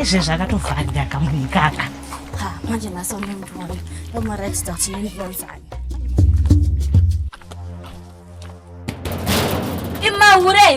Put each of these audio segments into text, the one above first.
izvezvi akatovharira kamunhu ikaka manje nhasi unemurume omaratidza kuti nenivonzani imahure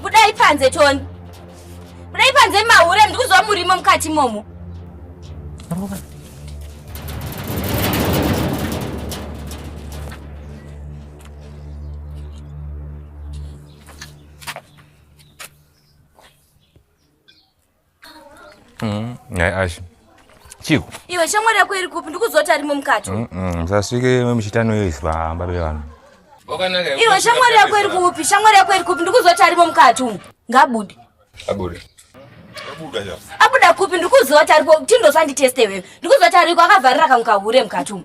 budai panze toni budai panze imahure ndikuzwa murimo mukati imomo Mm, nhai ashi chiko iwe shamwari yako iri kupi ndikuzoti arimo mukati mm, mm, musasvike muchitano yoiswa hamba bevanhu iwe shamwari yako iri kupi shamwari yako iri kupi ndikuzoti arimo mukati umu ngabude abude abuda kupi ndikuzoti aripo tindosanditeste iwewe ndikuzoti ariko akavharira kamukahure mukati umu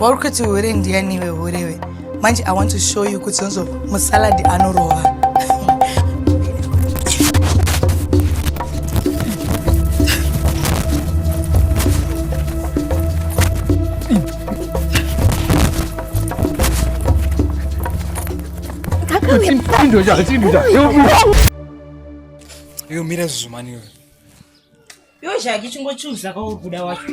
Wauri kuti hure ndiani iwe hurewe. Manje I want to show you kuti zonzo musalad anorova. Kakauya. Iwe mira zuzumani iwe. Iwe Jaki chingochuza kwauri kuda wacho.